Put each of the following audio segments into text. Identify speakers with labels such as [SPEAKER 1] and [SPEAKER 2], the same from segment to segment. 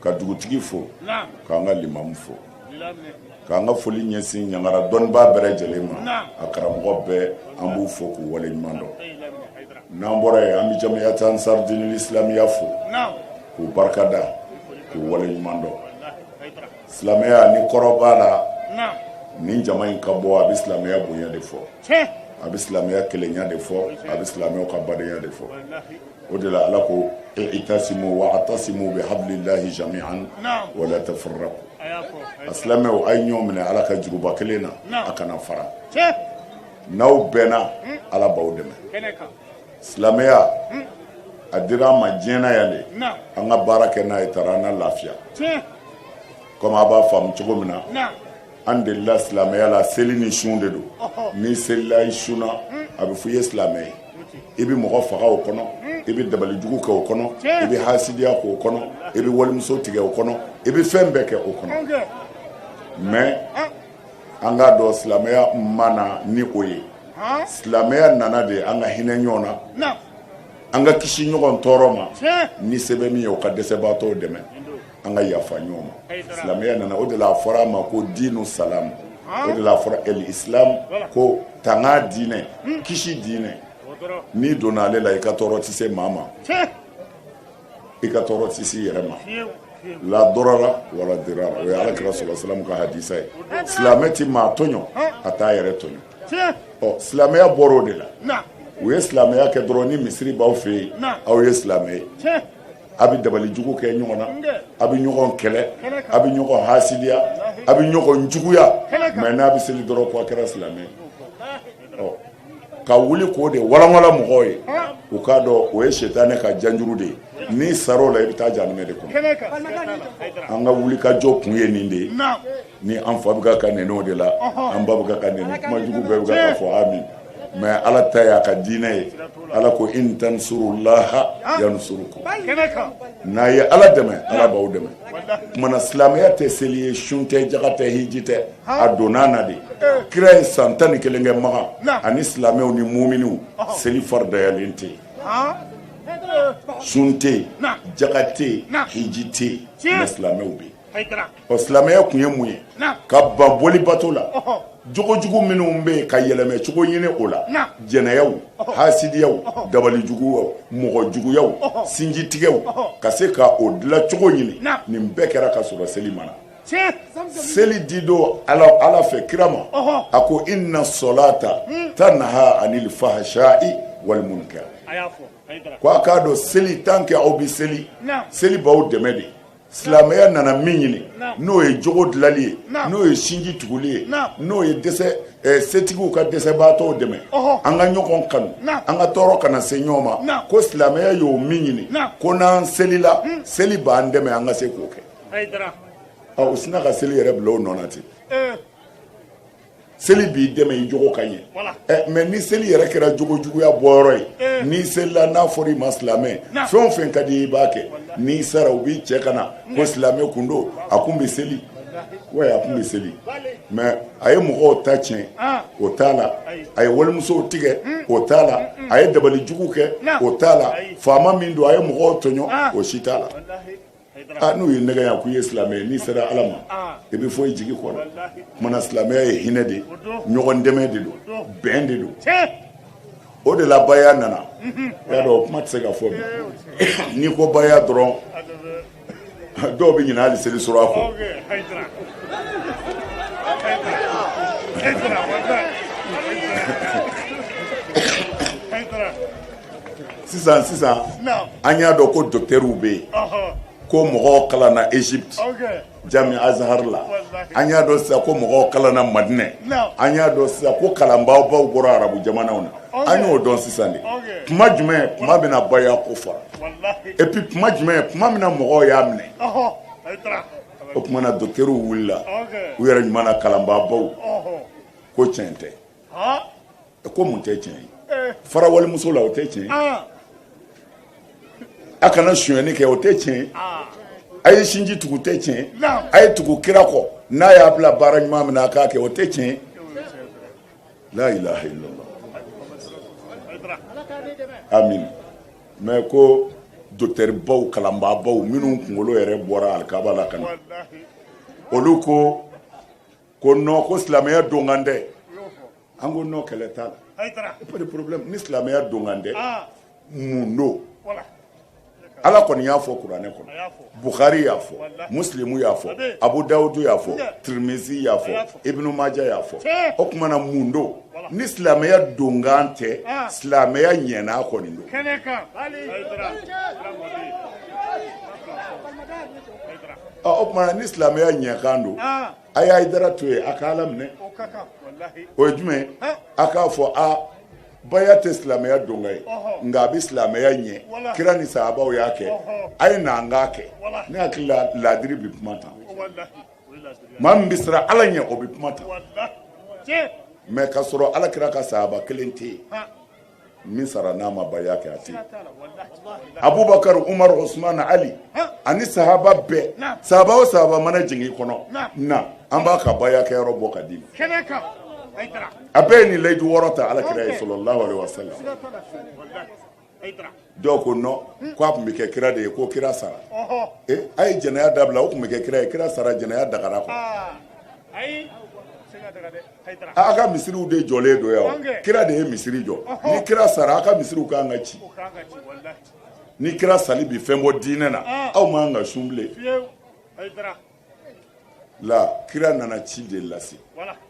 [SPEAKER 1] Ka dugutigi fo k'an ka limamu fo k'an ka foli ɲɛsin ɲangara dɔnnibaa bɛɛ lajɛlen ma a karamɔgɔ bɛɛ an b'u fo k'u wale ɲuman dɔn n'an bɔra yen an bɛ jamiyat ansar dinil islamiya fo k'u barika da k'u wale ɲuman dɔn silamɛya ni kɔrɔ b'a la nin jama in ka bɔ a bɛ silamɛya bonya de fɔ a bɛ silamɛya kelenya de fɔ a bɛ silamɛw ka badenya de fɔ o de la ala ko i'tasimu wa atasimu bi hablillahi jami'an wa la tafarraqu a silamɛw a ye ɲɔgɔn minɛ ala ka juruba kelen na a kana fara n'aw bɛnna ala b'aw dɛmɛ silamɛya a dira an ma diɲɛ na yan de an ka baara kɛ n'a ye taara an na lafiya kɔmi a b'a faamu cogo min na An delila silamɛya la seli ni sun de don n'i selila i sunna a bɛ fɔ i ye silamɛ ye i bɛ mɔgɔ faga o kɔnɔ i bɛ dabalijugu kɛ o kɔnɔ i bɛ hasidiya k'o kɔnɔ i bɛ walimuso tigɛ o kɔnɔ i bɛ fɛn bɛɛ kɛ o kɔnɔ mɛ an k'a dɔn silamɛya ma na ni o ye silamɛya nana de an ka hinɛ ɲɔgɔn na an ka kisi ɲɔgɔn tɔɔrɔ ma ni se bɛ min ye o ka dɛsɛbaatɔ dɛmɛ an ka yafa ɲɔgɔn ma silamɛya nana o de la a fɔra a ma ko diinu salam o de la a fɔra el islam ko tanga diinɛ kisi diinɛ n'i donna ale la i ka tɔɔrɔ tɛ se maa ma i ka tɔɔrɔ tɛ se i yɛrɛ ma la darara wala dirara o ye ala kira sɔlɔ salamu ka hadisa ye silamɛ tɛ maa tɔɲɔ a t'a yɛrɛ tɔɲɔ ɔ silamɛya bɔra o de la u ye silamɛya kɛ dɔrɔn ni misiri b'aw fɛ yen aw ye silamɛ ye a bɛ dabalijugu kɛ ɲɔgɔn na a bɛ ɲɔgɔn kɛlɛ a bɛ ɲɔgɔn hasidiya a bɛ ɲɔgɔn juguya mɛ n'a bɛ seli dɔrɔn ko a kɛra silamɛ ɔ ka wuli k'o de walanwala mɔgɔw ye u k'a dɔn o ye sitanɛ ka janjuru de ye n'i sara o la i bɛ taa jahanɛmɛ de kɔnɔ an ka wuli ka jɔ kun ye nin de ye Ni an fa bɛ ka nɛni o de la an ba bɛ ka nɛni kumajugu bɛɛ bɛ ka fɔ an ma mɛ ala ta y'a ka diinɛ ye ala ko in tansurullaha yansurukum n'a ye ala dɛmɛ ala b'aw dɛmɛ tuma na silamɛya tɛ seli ye sun tɛ jaka tɛ hiji tɛ a donna na de kira ye san tan ni kelen kɛ makan ani silamɛw ni muminiw seli faridayalen tɛ yen sun tɛ yen jaka tɛ yen hiji tɛ yen silamɛw bɛ yen Ɔ silamɛya kun ye mun ye? Naamu. Ka ban boli bato la. Ɔhɔn. Jogo jugu minnu bɛ yen ka yɛlɛmɛ cogo ɲini o la. Naamu. Jɛnɛyaw. Ɔhɔn. Haasidiyaw. Ɔhɔn. Dabali juguyaw. Ɔhɔn. Mɔgɔ juguyaw. Ɔhɔn. Sinji tigɛw. Ɔhɔn. Ka se ka o dilan cogo ɲini. Naamu. Nin bɛɛ kɛra ka sɔrɔ seli ma na. Tiɲɛ! Seli di don Ala fɛ kira ma. Ɔhɔn. A ko inna salata tanha anil fahsha'i wal munkar. Ko a k'a dɔn seli tant que aw bɛ seli. Naamu. Seli b'aw dɛmɛ de. silamɛya nana min ɲini n'o ye jogo dilali ye n'o ye sinji tuguli ye n'o ye dɛsɛ eh, setigiw ka dɛsɛbaatɔw dɛmɛ an ka ɲɔgɔn kanu an ka tɔɔrɔ kana se ɲɔgɔn ma ko silamɛya y'o min ɲini ko n'an selila hmm. seli b'an dɛmɛ an ka se k'o kɛ u sina ka seli yɛrɛ bila o nɔ na ten eh. seli b'i dɛmɛ i jogo ka ɲɛ eh, mais ni seli yɛrɛ kɛra jogo juguya bɔyɔrɔ ye eh. n'i selila n'a fɔra i ma silamɛ fɛn o fɛn ka di i b'a kɛ n'i sara u b'i cɛ ka na ko silamɛ kun don a kun bɛ seli wa a kun bɛ seli mais a ye mɔgɔw ta tiɲɛ ah. o t'a la a ye walimusow tigɛ hmm. o t'a la hmm, hmm. a ye dabali jugu kɛ o t'a la faama min don a ye mɔgɔw tɔɲɔ ah. o si t'a la N'u y'i nɛgɛn yan k'i ye silamɛ ye n'i sera ala ma i bɛ fɔ i jigi kɔ o tuma na silamɛya ye hinɛ de ye ɲɔgɔn dɛmɛ de don bɛn de don o de la baya nana a y'a dɔn o kuma tɛ se ka fɔ bi n'i ko baya dɔrɔn dɔw bɛ ɲinɛ hali seli sura kɔ sisan sisan an y'a dɔn ko docteurw bɛ yen ko mɔgɔw kalanna Egypte jami azhar la an y'a dɔn sisan ko mɔgɔw kalanna madinɛ an y'a dɔn sisan ko kalanbaabaw bɔra arabu jamanaw na an y'o dɔn sisan de kuma jumɛn kuma min na baya ko fɔra et puis kuma jumɛn kuma min na mɔgɔw y'a minɛ o tuma na docteurw wulila u yɛrɛ ɲuman na kalanbaabaw ko tiɲɛ tɛ ko mun tɛ tiɲɛ ye eh. fara walimuso la o tɛ tiɲɛ ah. a kana sonyɛni kɛ o tɛ tiɲɛ ye ah. a ye sinji tugu tɛ tiɲɛ a ye tugu kira kɔ n'a y'a bila baara ɲuman min na a k'a kɛ o tɛ tiɲɛ ye la ilaha illallah amin mais ko docteur baw kalanbaa baw minnu kunkolo yɛrɛ bɔra alikaba la ka na olu ko ko non ko silamɛya donkan tɛ an ko non kɛlɛ t'a la pas de problème ni silamɛya donkan tɛ ah. mun don ala kɔni y'a fɔ kuranɛ kɔnɔ bukhari y'a fɔ musilimu y'a fɔ abu dawudu y'a fɔ tirimizi y'a fɔ ibnu maja y'a fɔ o tuma na mun don ni silamɛya donkan tɛ ah. silamɛya ɲɛnan kɔni don o tuma na ni silamɛya ɲɛkan don a ye hayidara to yen a k'ala minɛ o ye jumɛn a k'a fɔ baya tɛ silamɛya donkan ye nka a bɛ silamɛya ɲɛ kira ni sahabaw y'a kɛ a ye na an k'a kɛ ne hakili la laadiri bɛ kuma tan maa min bɛ siran ala ɲɛ o bɛ kuma tan mais k'a sɔrɔ ala kira ka sahaba kelen tɛ yen min sara n'a ma baya kɛ a tɛ yen abubakar umar usman ali ani sahaba bɛɛ sahaba o sahaba mana jigin i kɔnɔ na an b'a ka baya kɛ yɔrɔ bɔ ka d'i ma a bɛɛ ye nin layidu wɔɔrɔ ta alakira ye sallallahu alaihi wasallam dɔw ko non ko a tun bɛ kɛ kira de ye ko kira sara a ye jɛnɛya dabila o tun bɛ kɛ kira ye kira sara jɛnɛya dagara kɔ a ka misiriw de jɔlen don yan kira de ye misiri jɔ ni kira sara a ka misiriw ka kan ka ci ni kira sali bi fɛn bɔ diinɛ na aw man ka sun bilen la kira nana ci de lase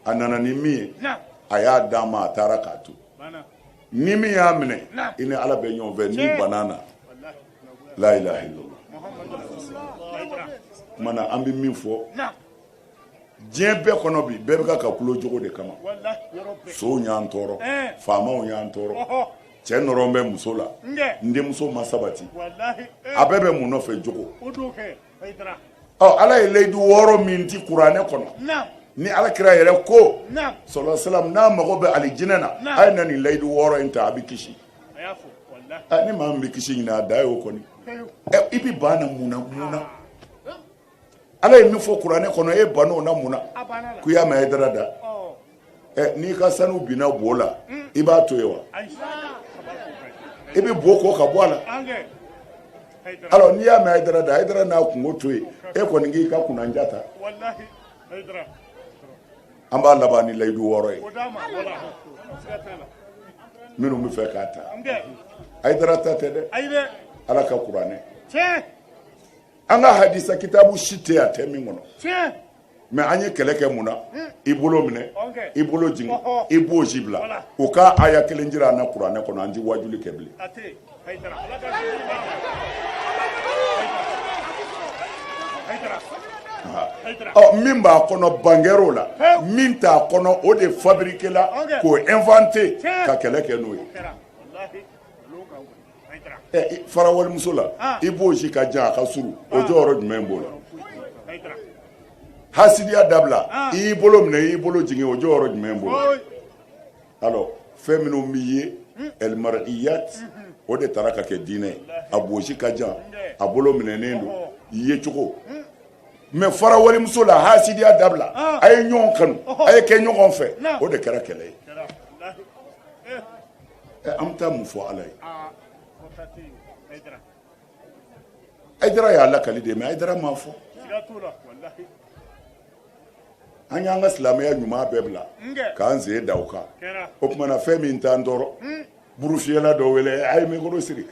[SPEAKER 1] a nana ni min ye a y'a d'a ma a taara k'a to ni min y'a minɛ i ni ala bɛ ɲɔgɔn fɛ n'i ban'a na la ilaha illallah mana an bɛ min fɔ diɲɛ bɛɛ kɔnɔ bi bɛɛ bɛ ka kulo jogo de kama sonw y'an tɔɔrɔ faamaw y'an tɔɔrɔ cɛ nɔrɔlen bɛ muso la n denmuso ma sabati a bɛɛ bɛ mun nɔfɛ jogo ala ye layidu wɔɔrɔ min di kuranɛ kɔnɔ ni alakira yɛrɛ ko sallallahu alaihi wasallam n'a mago bɛ alijinɛ na a ye na nin layidu wɔɔrɔ in ta a bɛ kisi ni maa min bɛ kisi ɲini a da ye o kɔni i bɛ ban na mun na mun na ala ye min fɔ kuranɛ kɔnɔ e ban o na mun na k'u y'a mɛn Hayidara da n'i ka sanu binna bo la i b'a to yen wa i bɛ bo ko ka bɔ a la alors n'i y'a mɛn Hayidara da Hayidara n'a kunko to yen e kɔni k'i ka kunnanja ta an b'a laban ni layidu wɔɔrɔ ye minnu b'a fɛ k'a ta Hayidara ta tɛ dɛ Ala ka kuranɛ an ka hadisa kitabu si tɛ yen a tɛ min kɔnɔ mais an ye kɛlɛ kɛ mun na i bolo minɛ i bolo jigin i bonsi bila u ka aya kelen jira an na kuranɛ kɔnɔ an tɛ wajuli kɛ bilen min b'a kɔnɔ ban kɛr'o la min t'a kɔnɔ o de fabriqué la k'o inventé ka kɛlɛ kɛ n'o ye fara walimuso la ah. i bonsi ka jan a ka surun o ah. jɔyɔrɔ jumɛn b'o la hasidiya dabila ah. i y'i bolo minɛ i y'i bolo jigin o jɔyɔrɔ jumɛn b'o la alors fɛn minnu b'i ye hmm. elmariyat hmm, hmm. o de taara ka kɛ diinɛ a bonsi ka jan a bolo minɛnen don ye cogo mais fara walimuso la hasidiya dabila a ye ɲɔgɔn kanu a ye kɛ ɲɔgɔn fɛ o de kɛra kɛlɛ ye an bɛ taa mun fɔ ala ye hayidara y'a lakali de mais hayidara m'a fɔ an y'an ka silamɛya ɲuman bɛɛ bila k'an sen da o kan o tuma na fɛn min t'an tɔɔrɔ burufiyɛla dɔ wele a ye mikɔrɔ siri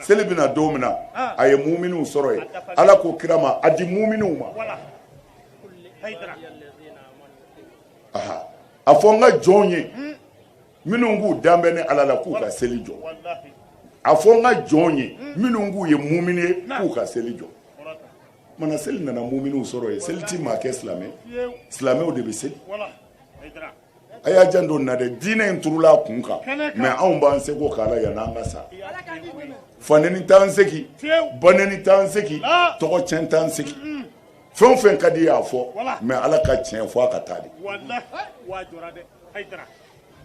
[SPEAKER 1] seli bɛ na don min na ah. a ye muminiw sɔrɔ yen ala ko kira ma a di muminiw ma a fɔ n ka jɔnw ye hmm. minnu k'u dalen bɛ ne ala la k'u ka seli jɔ a fɔ n ka jɔnw ye hmm. minnu k'u ye mumini ye k'u ka seli jɔ mana seli nana muminiw sɔrɔ yen seli ti maa kɛ silamɛ silamɛw de bɛ seli a y'a janto n na dɛ diinɛ in turula an kun kan mais anw b'an seko k'a la yann'an ka sa fanɛni t'an segi banɛni t'an segi tɔgɔcɛn t'an segi fɛn o fɛn ka d'i y'a fɔ mais ala ka tiɲɛ fo a ka taa dɛ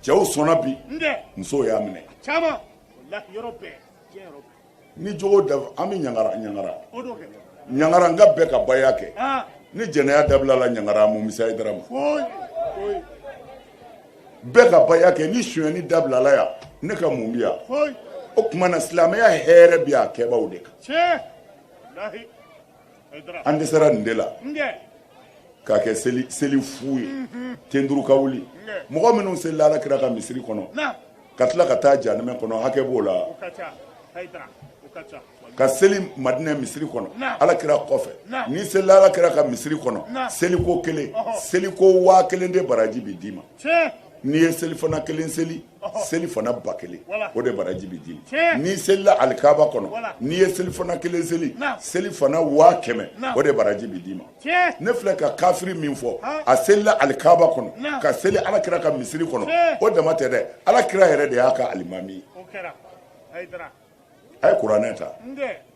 [SPEAKER 1] cɛw sɔnna bi musow y'a minɛ ni jogo da an bɛ ɲagara ɲagara ɲagara nka bɛɛ ka baya kɛ ni jɛnɛya dabilala ɲagara mun bi se hayidara ma bɛɛ ka baya kɛ ni sonyɛni dabilala yan ne ka mun bi yan o tuma na silamɛya hɛrɛ bi a kɛbaaw de kan an dɛsɛra nin de la k'a kɛ seli seli fu ye ten turu ka wuli mɔgɔ minnu selila ala kira ka misiri kɔnɔ ka tila ka taa jahanɛmɛ kɔnɔ hakɛ b'o la ka seli madinɛ misiri kɔnɔ ala kira kɔfɛ n'i selila ala kira ka misiri kɔnɔ seliko kelen seliko waa kelen de baraji bɛ d'i ma n'i ye selifana kelen seli selifana ba kelen o de baraji bɛ d'i ma n'i selila alikaba kɔnɔ n'i ye selifana kelen seli selifana waa kɛmɛ o de baraji bɛ d'i ma ne filɛ ka kafiri min fɔ a selila alikaba kɔnɔ ka seli ala kira ka misiri kɔnɔ o dama tɛ dɛ ala kira yɛrɛ de y'a ka alimami ye a ye kuranɛ ta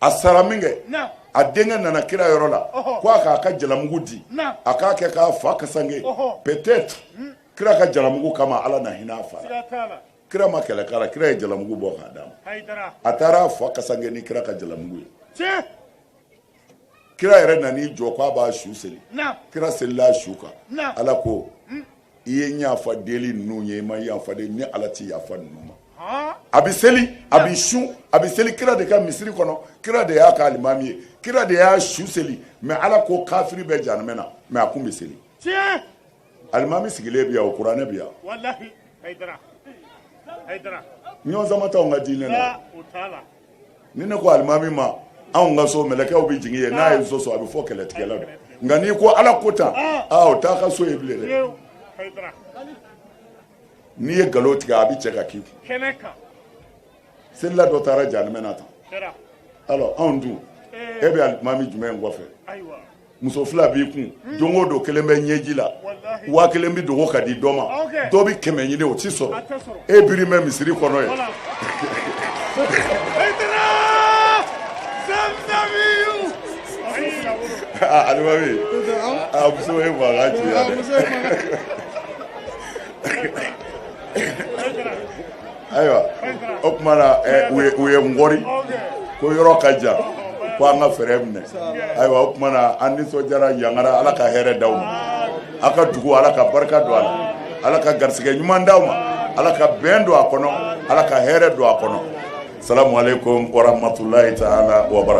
[SPEAKER 1] a sara min kɛ a denkɛ nana kira yɔrɔ la ko a k'a ka jalamugu di a k'a kɛ k'a fa kasange peut-être hmm. kira ka jalamugu kama ala na hinɛ a fa la kira ma kɛlɛ k'a la kira ye jalamugu bɔ k'a d'a ma a taara a fa kasange ni kira ka jalamugu ye kira yɛrɛ nan'i jɔ k'a b'a su seli kira selila a su kan ala ko hmm. i ye n yafa deli ninnu ye i ma yafa deli ala ti yafa ninnu ma a bɛ seli a bɛ sun a bɛ seli kira de ka misiri kɔnɔ kira de y'a ka alimami ye kira de y'a su seli mais ala ko kafiri bɛ jahanɛmɛ na mais a kun bɛ seli alimami sigilen bi yan o kuranɛ bi yan walahi hayidara hayidara ɲɔgɔn sama t'anw ka diinɛ la aa o t'a la ni ne ko alimami ma anw ka so mɛlɛkɛw bɛ jigin yen n'a ye so sɔrɔ a bɛ fɔ nkalontigɛla don nka n'i ko ala ko tan aa o t'a ka so ye bilen dɛ fiyewu hayidara n'i ye nkalon tigɛ a bɛ cɛ ka k'i kun kɛnɛ kan selila dɔ taara jahanama na tan alors anw dun e bɛ alimami jumɛn kɔfɛ muso fila b'i kun hmm. don o don kelen bɛ ɲɛji la waa kelen bɛ dogo ka di dɔ ma dɔ bɛ kɛmɛ ɲini o tɛ sɔrɔ e biri bɛ misiri kɔnɔ yen alimami a muso ye mankan ci yan dɛ ayiwa o tuma na u ye ngɔri ko yɔrɔ ka jan ko an ka fɛɛrɛ minɛ ayiwa o tuma na an nisɔndiyara yangara ala ka hɛrɛ di aw ma aw ka dugu ala ka barika don a la ala ka garisɛgɛ ɲuman di aw ma ala ka bɛn don a kɔnɔ ala ka hɛrɛ don a kɔnɔ salamu aleyikum wa rahamatulahi taala wa barakatu